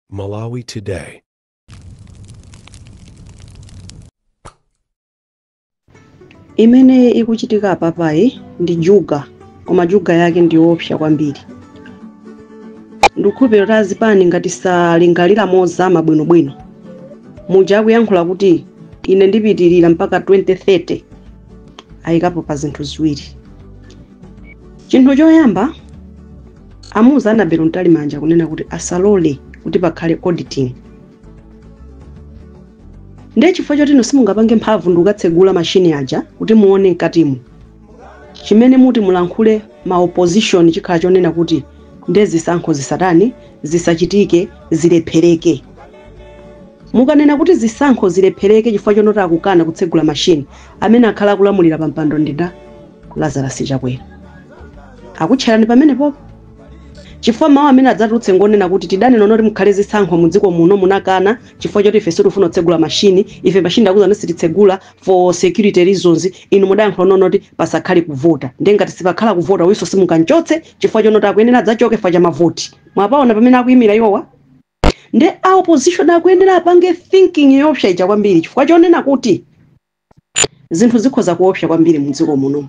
Malawi Today. imene ikuchitika apapayi ndi juga koma juga yake ndi yoopsa kwambiri ndikhulupirira kuti azipani ngati salingalira mozama bwinobwino muja akuyankhula kuti ine ndipitirira mpaka 2030 ayikapo pa zinthu ziwiri chinthu choyamba amuuza Annabel Mtalimanja kunena kuti asalole kuti pakhale auditing ndiye chifukwa choti inu simungapange mphamvu ndi kukatsegula mashini aja kuti muone mkatimo chimene muti mulankhule ma opposition chikhala chonena kuti nde zisankho zisatani zisachitike zilephereke mukanena kuti zisankho zilephereke chifukwa chonoti akukana kutsegula mashini amene akhala akulamulira pa mpando ndi nda lazarus chakwera akutcherani pamenepopo chifukwa mawu amene adzatulutse ngonena kuti tidanena noti mukhale zisankho mu dziko muno munakana chifukwa choti ife sitifuna kutsegula mashini ife mashini akuuza kuti sititsegula for security reasons inu mudayankhula nonoti pasakhale kuvota nde ngati sipakhala kuvota uyunso simungamchotse chifukwa chonoti akuyenera adzachoke fa cha mavoti mwapaona pamene akuyimira iwowa nde a opposition akuyenera apange thinking yoopsa ija kwambiri chifukwa chonena kuti zinthu zikhoza kuopsa kwambiri mdziko muno.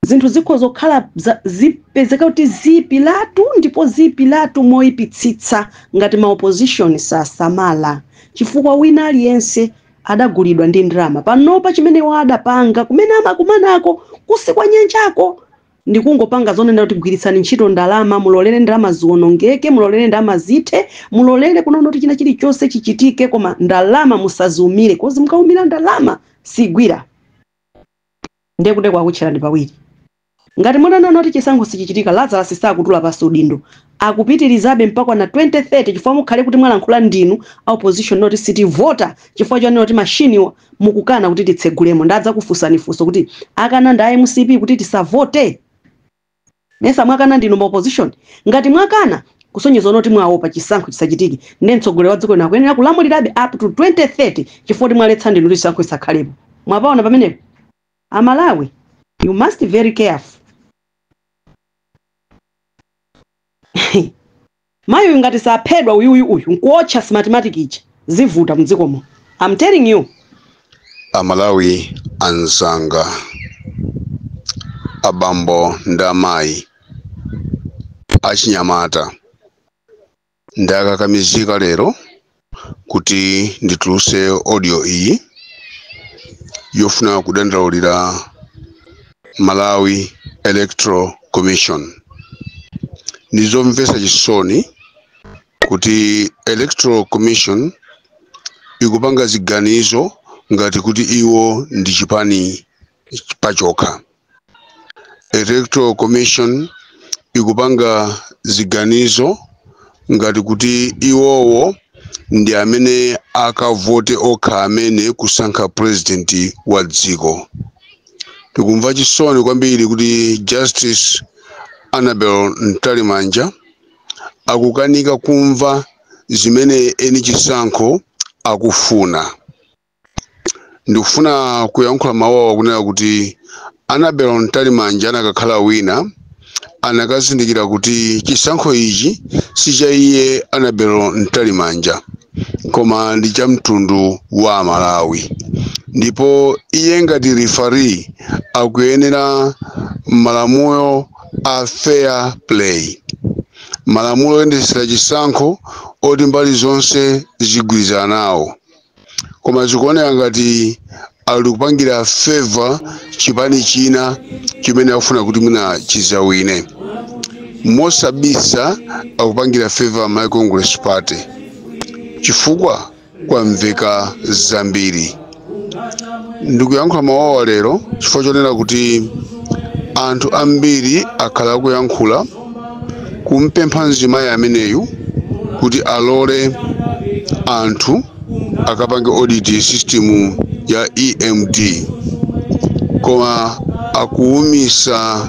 Zinthu zikhoza kukhala zipezeka kuti ziipiratu ndipo ziipiratu moipitsitsa ngati ma opposition sasamala, chifukwa wina aliyense adagulidwa ndi ndalama. Panopa chimene iwo adapanga, kumene amakumanako kutsi kwa nyanjako, ndikungopanga zonena kuti gwiritsani ntchito ndalama mulolere ndalama ziwonongeke mulolere ndalama zithe mulolere kunena kuti china chilichonse chichitike koma ndalama musaziumire kozi mukaumira ndalama sigwira ndiye kuti akutcherani pawiri ngati mutanena kuti chisankho sichichitika lazarus sakutula pansi udindo akupitilizabe mpakana 2030 chifukwa mukhale kuti mwalankhula ndinu a opposition noti sitivota chifukwa chonena kuti machinewa mukukana kuti titsegulemo nde adzakufunsani funso kuti akana ndi a mcp kuti tisavote? mesa mwakana ndinu ma opposition? ngati mwakana kusonyeza kunena kuti mwaopa chisankho chisachitike nde mtsogoleri wa dziko lino akuyenera kulamulirabe up to 2030 chifukwa kuti mwaletsa ndinu kuti chisankho chisakhalepo mwapaona pamenepo? amalawi you must be very careful. mayi uyu ngati saphedwa uyuyu uyu nkuotcha smartmatic ija zivuta mdziko muno am telling you amalawi anzanga abambo ndi amayi achinyamata ndakakamizika lero kuti ndituluse audio iyi yofuna kudandaulira malawi electoral commission ndizomvesa chisoni kuti electoral commission ikupanga ziganizo ngati kuti iwo ndi chipani pachokha electoral commission ikupanga ziganizo ngati kuti iwowo ndi amene akavote okha amene kusankha president wa dziko tikumva chisoni kwambiri kuti justice annabel mtalimanja akukanika kumva zimene eni chisankho akufuna ndikufuna kuyankhula mawu awa kunena kuti anabel mtalimanja anakakhala wina anakazindikira kuti chisankho ichi si cha iye anabel mtalimanja koma ndi cha mtundu wa amalawi ndipo iye ngati referee akuyenera malamulo a fair play malamulo oyendetsera chisankho oti mbali zonse zigwirizana nawo koma zikuoneka ngati ali kupangira favor chipani china chimene akufuna kuti mwina chizawine mosabisa akupangira favor malawi congress party chifukwa kwamveka zambiri ndikuyankhula mawawa lero chifukwa chonena kuti anthu ambiri akhala akuyankhula kumpempha mzimayi ameneyu kuti alole anthu akapange audit system ya emd koma akuwumisa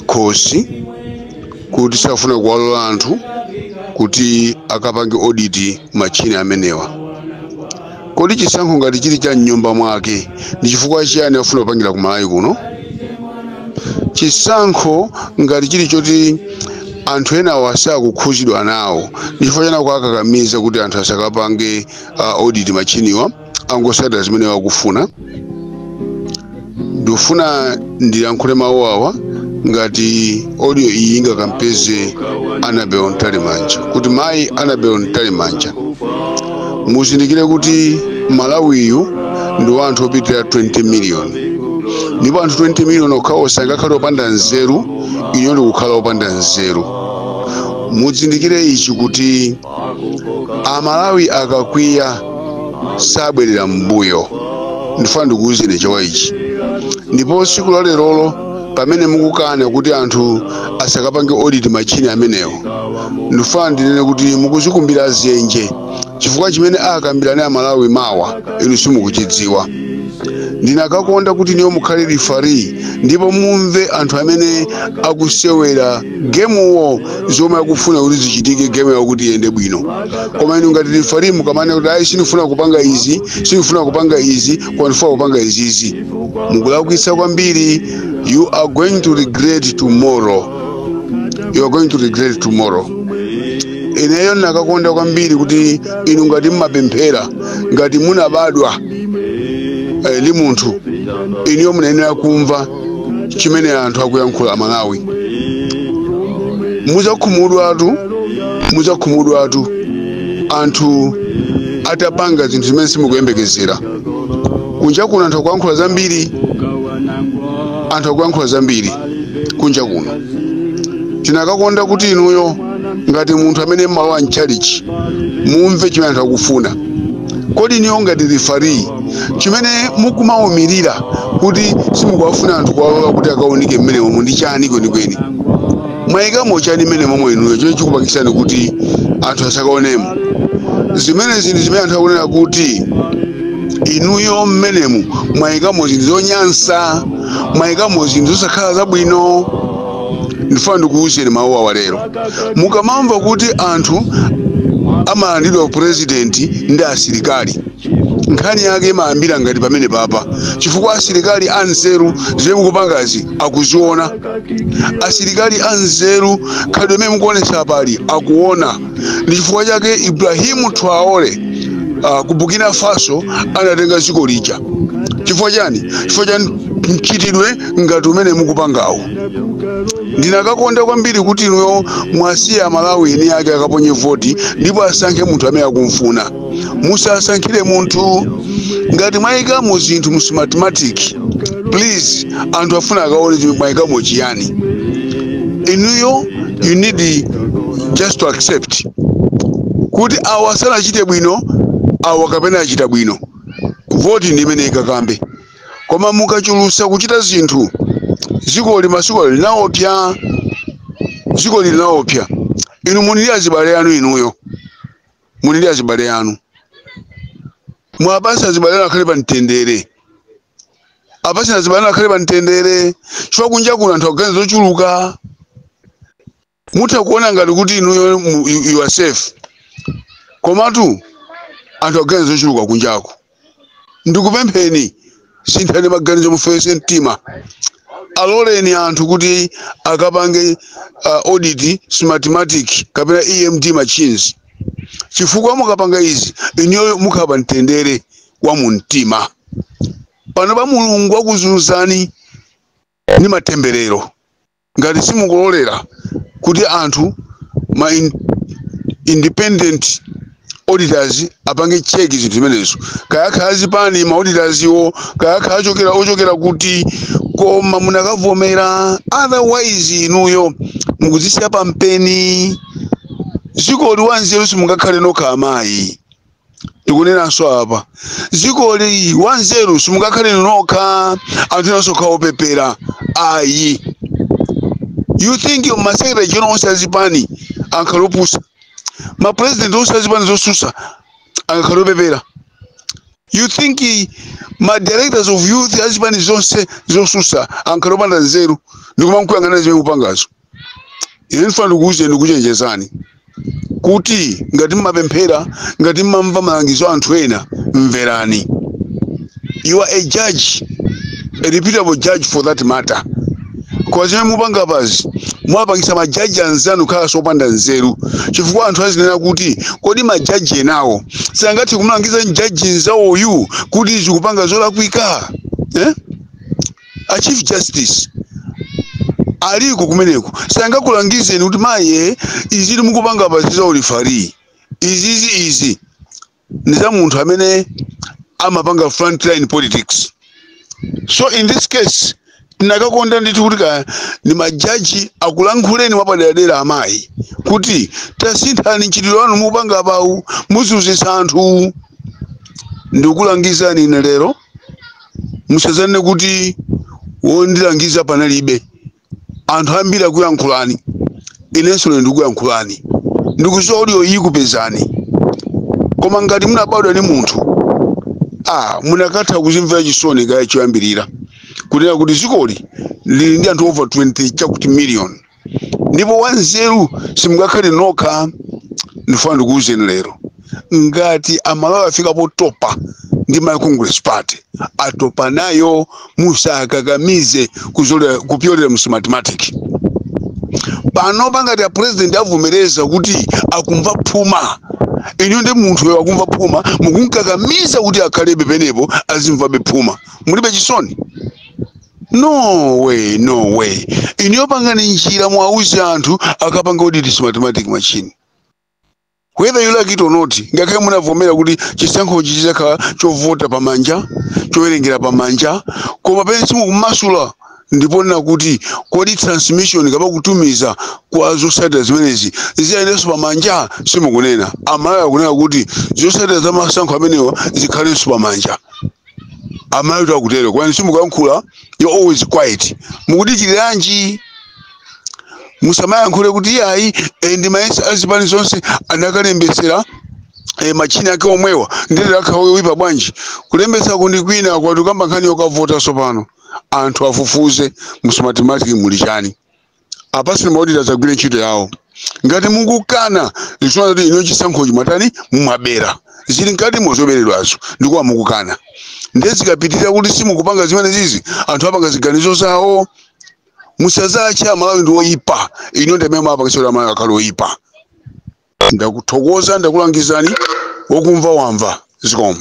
khosi kuti safuna kuwalola anthu kuti akapange audit machini amenewa Kodi chisankho ngati chili cha mnyumba mwake ndi chifukwa chiyani akufuna kupangira ku Malawi kuno? Chisankho ngati chili choti anthu enawo asakukhuzidwa nawo ndi chifukwa chani akuwakakamiza kuti anthu asakapange uh, audit machiniwa angosata zimene iwo akufuna ndikufuna ndiyankhule mawu awa ngati audio iyi ingakampeze anabel mtalimanja kuti mayi anabel mtalimanja muzindikire kuti malawiyu ndi wa anthu opitira 20 miliyoni ndipo anthu 20 miliyoni okhawo sangakhale opanda nzeru inuyo ndikukhala opanda nzeru muzindikire ichi kuti amalawi akakwiya sabwerera m'mbuyo ndifuna ndikuwuzeni chifukwa ichi ndipo siku la lerolo pamene mukukana kuti anthu asakapange audit machine amenewo ndifuna ndinene kuti mukuzikumbira dzenje chifukwa chimene akambirane amalawi mawa inu simukuchidziwa ndinakakonda kuti inuyo mukhale referee ndipo mumve anthu amene akusewera gamewo zomwe akufuna kuti zichitike game yawo kuti iyende bwino koma inu ngati referee mukamanena kuti ayi sindifuna kupanga izi sindifuna kupanga izi koma ndifuna kupanga izizi mukulakwitsa kwambiri you are going to regret tomorrow you are going to regret tomorrow ineyo ndinakakonda kwambiri kuti inu ngati mmapemphera ngati munabadwa eh, ndi munthu inuyo munayenera kumva chimene anthu akuyankhula amalawi muzakhumudwatu muzakhumudwatu anthu atapanga zinthu zimene simukuyembekezera kunja kuno anthu akuyankhula zambiri anthu akuyankhula zambiri kunja kuno tinakakonda kuti inuyo ngati munthu amene mmalowa mchalichi mumve chimene anthu akufuna kodi inuyo ngati referee chimene mukumawumirira kuti simukuwafuna anthu kuwalola kuti akaunike mmenemomo ndi chani kwenikweni mwayikamo chani mmenemomo inuyo chimene chikupangitsani kuti anthu asakaonemo zimene zinthu zimene anthu akunena kuti inuyo mmenemu mwayikamo zinthu zonyansa mwayikamo zinthu zosakhala zabwino ndifuna ndikuwuzeni mawu awa lero mukamamva kuti anthu amalandidwa upurezidenti ndi asilikali nkhani yake imayambira ngati pamenepapa chifukwa asilikali anzeru zimene mukupangazi akuziona asilikali anzeru khalidwe limene mukuonesa apali akuona ndi chifukwa chake ibrahimu traore uh, ku burkina faso anatenga dziko lija chifukwa chani chifukwa cha mchitidwe ngati umene mukupangawo Ndinakakonda kwambiri kuti inuyo muwasiye Amalawi eni ake akaponye voti ndipo asankhe munthu amene akumfuna. Musasankhire munthu. Ngati mwayikamo zinthu mu Smartmatic, please anthu afuna akaone kuti mwayikamo chiyani. Inuyo you need just to accept kuti awa sanachite bwino, awa kapena achita bwino. Voti ndi imene ikakambe. koma mukachulutsa kuchita zinthu dzikoli dzikoli linaopsa dzikoli linaopsa inu muli ndi azibale anu inuyo muli ndi azibale anu muwapatse azibale anu akhale pa mtendere apatseni azibale anu akhale pa mtendere chifukwa kunja kuno anthu akuganiza zochuluka mutha kuona ngati kuti inuyo mu- you you are safe komatu anthu akuganiza zochuluka kunjako ndikupempheni sinthani maganizo mufewese mtima aloleni anthu kuti akapange uh, audit smartmatic kapena emd machines chifukwa mukapanga izi inuyo mukhala pa mtendere wa mu mtima pano pa mulungu akuzunzani ndi matemberero ngati simukulolera kuti anthu ma in, independent auditors apange check zinthu zimenezo kaya akhala a zipani ma auditors iwo kaya akhala ochokera ochokera kuti koma munakavomera otherwise inuyo mukuzisiya pampeni zikoli wanzeru simungakhale nokha amayi ndikunenanso apa zikoli wanzeru simungakhale inu nokha anthu enanso akhala opepera ayi you think masekretary general onse azipani angakhale opusa mapurezidenti onse azipani zosusa angakhale opepera you think eh, ma directors of youth azipani zonse zosusa angakhale opanda nzeru ndikumamkuyang'ana zimene mukupangazo ine ndifuna ndikuwuzeni ndikuchenjezani kuti ngati mmapemphera ngati mmamva malangizo a anthu ena mverani you are a judge a reputable judge for that matter koma zimene mupanga apazi mwapangisa majaji anzanu kukhalanso opanda nzeru chifukwa anthu azinena kuti kodi majaji enawo sangathe kumlangiza mjaji nzawoyu kuti ukupanga zolakwika eh? a chief justice aliko kumeneko sangakulangizeni kuti mayi izi mukupanga apazi si za ulifari izizi izi ni za munthu amene amapanga frontline politics so in this case tinakakonda ndithu kuti kaya ni majaji akulankhuleni mwapaderadera amayi kuti tasinthani mchitidwe wanu mukupanga apawu muzunzitsa anthu ndikulangizani ine lero musazanene kuti wondilangiza panalibe anthu ambiri akuyankhulani inenso lero ndikuyankhulani ndikuziwa audio iyi ikupezani koma ngati munabadwa ndi munthu ah munakatha kuzimvera chisoni kaye choyambirira kunena kuti zikoli lili ndi anthu over 20 chakuti million ndipo wanzeru simungakhale nokha ndifuna ndikuwuzeni lero ngati amalawi afika potopa ndi malawi congress party atopa nayo musakakamize kuzolera- kupyolera mu smartmatic panopa ngati a president avomereza kuti akumva phuma inuyo ndi munthu uyo akumva phuma mukumkakamiza kuti akhalebe penepo azimvabe phuma mulibe chisoni no way no way inuyo pangani njira mwauze anthu akapanga audit Smartmatic machine whether you like it or not ngakhale munavomera kuti chisankhochi chizakhala chovota pamanja chowerengera pamanja koma penee simukumasula ndi ponena kuti kodi transmission kapena kutumiza kwa zotsatira zimenezi ziyendenso pamanja simukunena amalawi akunena kuti zotsatira za masankho amenewa zikhalenso pamanja amalawitu akutero koma simukuyankhula you're always quiet mukudikira chiyani musamayankhule kuti iyayi eh, ndimayesa azipani zonse anakalembetsera eh, machini ake omwewa ndiye lero akhale oyipa bwanji kulembetsa ndi kwina apatu tikukamba nkhani yokavota sopano anthu afufuze mu Smartmatic muli chani apatseni ma auditor adzagwire ntchito yawo ngati mukukana zikusonyeza kuti inu chisankhochi mumatani mumabera zili mkatimo zoberedwazo ndichifukwa mukukana ndiye zikapitirira kuti simukupanga zimenezizi anthu apanga ziganizo zawo musadzatche amalawi ndi oyipa inu ndi amene mwapangitsa kuti amalawi akhale oyipa ndakuthokoza ndakulangizani wokumva wamva zikomo